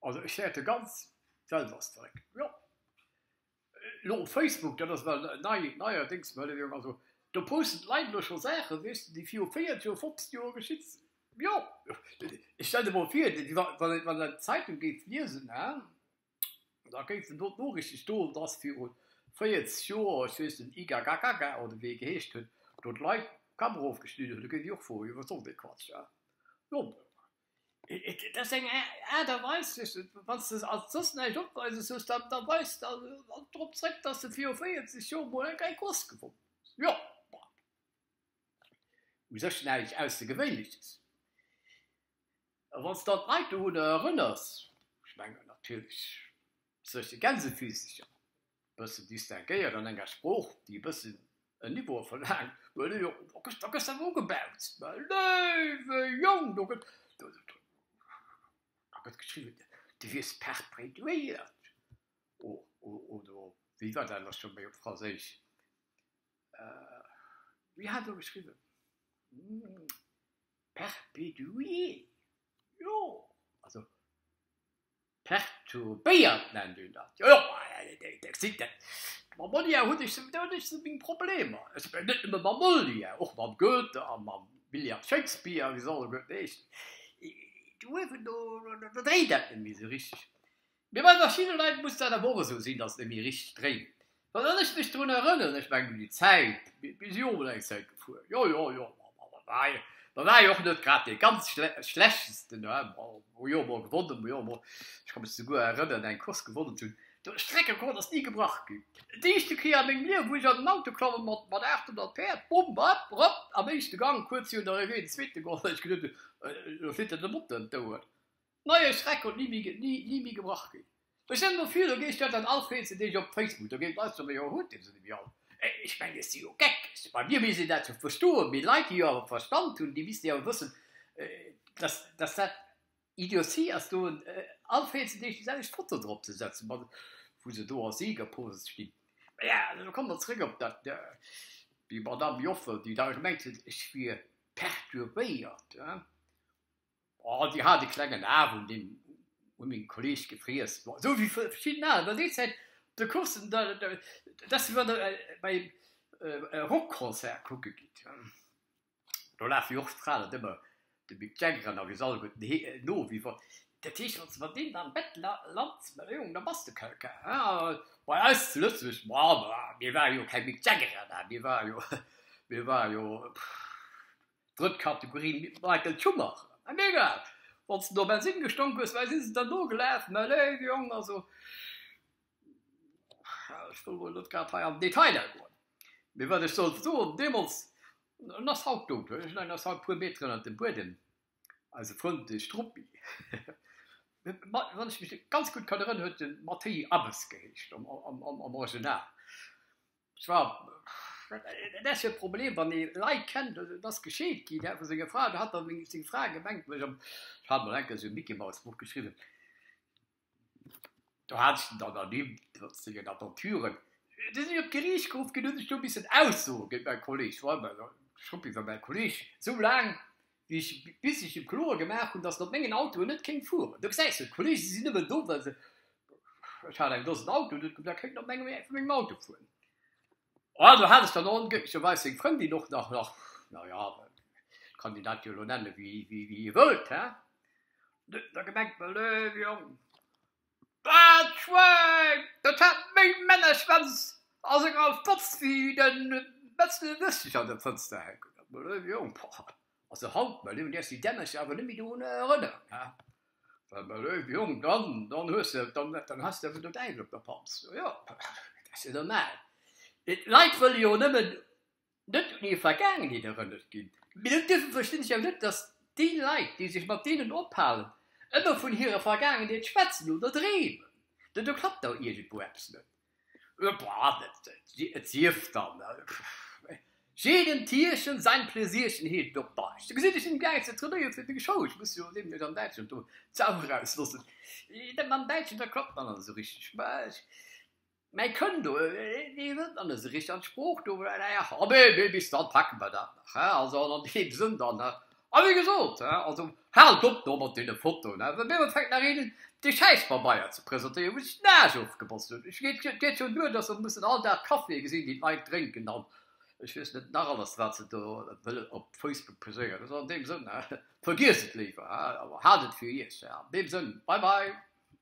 Also ech fäerte ganz Welters zeréck. Jo. Lo op Facebook, dat ass ewell nei, neierdéngs ewell eng, also do posten d'Leit elo scho Saachen, weess de, déi viru 40 Joer, 50 Joer geschitt sinn. Jo. Stell de mol vir, wann een, wann een d'Zeitung géif liesen, hè, da géifen do d'Noriichten stoen, dass viru 40 Joer, ech weess net, Igagagaga oder wéi e geheescht huet, do d'Leit d'Kamera ofgeschnidden hunn. Da géif ech och froen, jo wat soll dee Quatsch, hè? Jo. Et ass eng Aart a Weis, wann s de als soss näischt opweises hues, da weis de drop zréck, dass de viru 40 Joer mol eng Gei Gross gewonnen hues. Jo, bon. U sech näischt Aussergewéinleches. A wann s de dann d'Leit dorunner erënners, ech mengen natierlech, sech de Gänsefizzecher. e bëssen distinguéiert an enger Sprooch, déi e bëssen en Niveau verlaangt, do gëss de awer ugebaut, léiwe Jong, do gëtt geschriwwen, du wiers perpréduéiert oder wéi war dat nach scho méi op Franséisch, wéi hat elo geschriwwen, perpédué, jo, also. Perturbéiert nennt een dat, jo jo. Mam Molière hunn ech sou meng Problemer, net nëmme mam Molière, och mam Goethe a mam William Shakespeare, wéi se alleguerten heeschen, do huet een do, do dréint dat net méi sou richteg. Mee bei verschidde Leit muss dat awer och esou sinn, datt et net méi richteg dréint. Well wann ech mech drun erënneren, ech mengen un déi Zäit, mir si jo emol eng Zäit gefuer, jo jo jo, mer ware jo och net grad dee ganz schlechtesten, mer hu jo emol gewonnen, mer hu jo emol, ech ka mech souguer erënneren, eng Course gewonnen ze hunn, de Streckrekord ass ni gebrach ginn. D'éischte Kéier a mengem Liewen, wou ech an en Auto klommen mat 800 Päerd, bum, bap, rop, am éischte Gang, kuerz virun der Arrivée, den zweete gewonnen, ech gesot hunn, elo flitt der de Motor ëm d'Ouer. Neie Streck konnt ni méi ni méi gebrach ginn. Ech hunn no viru geescht, huet dann all Freed se deeg op Facebook, do géif leister méi, jo hutt dir se nemmi all. Ech mengen et si jo Geck, bei mir misst een dat jo verstoen, mee Leit déi jo awer Verstand hunn, déi missten jo awer wëssen, dass dass dat Idiotie ass do all Freed se deeg déi selwecht Foto drop ze setzen, mat wou se do a Siegerpose stinn. Mä jo, elo kommen mer zrëck op dat, déi Madame Joffer, déi da gemengt huet ech wier perturbéiert. Oh, déi hat e klengen Aarm un meng Kolleeg gefriess. Esou wéi verschidden aner. Bei déi Zäit op de Coursen, da si mer da bei e Rockconcert kucke ginn. Do lafe jo och d'Fraen net ëmmer de Mick Jagger an der Gesalbert no. Dat heescht also, wann deen am Bett lant, ma Jong, da bass de kal kal. Mä bei eis zu Lëtzebuerg, ma mir ware jo keng Mick Jaggerer, mä mir ware jo, mir ware jo, Drëtt Kategorie, Michael Schumacher, mä mir egal, wann s de no Bensinn gestonk hues, wei si se der nogelaaf? Mä léif Jong, also, ja, ech wëll wuel net grad hei an den Detailer goen, mee wat ech soll soen, deemools, en ass haut dout, wéi ech mengen, en ass haut e puer Meter ënnert dem Buedem, eise Frënd, de Struppi, wann ech mech ganz gutt kann erënneren, huet e Mattéi Abes geheescht am Original. Tjo, dat ass jo e Problem, wann ee Leit kennt, et ass gescheet ginn, dat vu senger Fra, do hat dann seng Fra gemengt, ech hat emol enke sou e Micky-Maus-Buch geschriwwen, do hat ech den dann ernimmt, trotz sengen Aventuren. Du sinn ech op d'Geriicht geruff ginn, hunn ech do missen aussoen géint mäi Kolleeg, ech war ëmmer Schruppi fir mäi Kolleeg, sou laang, wéi ech bisichen kloer gemaach hunn, datt en op mengen Autoen net kéint fueren. Do gesäis de, d'Kollege sinn nëmmen do, well se, ech hat eng Dosen Autoen, huet gesot, kéinten op mengem Auto fueren. Also hat ech dann och, glécklecherweis, seng Frëndin och nach, nach, na ja, kann Dir dat jo elo nennen, wéi Dir wëllt, hä, da gemengt, Mallöv, Jong, Daat Schwein, daat haat méi Männerschwänz a senger Fotz wéi den Metzel Wëstig an der Fotz ze hänken. Also haut mei lewen, däerfs déi Dämmercher awer nemmi dorun erënneren, he? Well mei lewen, Jong, dann, dann hues de, dann, dann has de awer den Däiwel op der Panz. Jo, jo, dat ass jo normal, mee d'Leit wëlle jo nemmen net un hir Vergaangenheet erënnert ginn, mee dat dierfe verstinn ech jo net, datt déi Leit, déi sech mat deenen ophalen, ëmmer vun hirer Vergaangenheet schwätzen oder dreemen. Do do klappt da iergendwou eppes net. Et sief dann, Jedem Tierchen sein Pläsierchen heescht et op Däitsch. Do gesinn ech him gaangen ze trainéieren fir de Show, ech muss jo nämlech an Däitschland do d'Sau erausloossen. Dat mam Däitschen, dat klappt dann net esou richteg. Mä kënn do nees net an esou richteg an d'Sprooch do. Abee, mee bis dann packe mer dat nach. Also an deem Sënn dann, a wéi gesot, also haalt op do mat deene Fotoen, well mir hunn fänkt nach een dee Schäispabeier ze presentéieren, wou sech den Aarsch ofgebotzt huet. Et geet schonn duer, datt mer mussen all Dag Caféë gesinn, déi d'Leit drénken an ech weess net nach alles, wat se do wëllen op Facebook poséieren. Also an deem Sënn, vergiesst et léiwer, awer haalt et fir Iech. An deem Sënn, bye bye.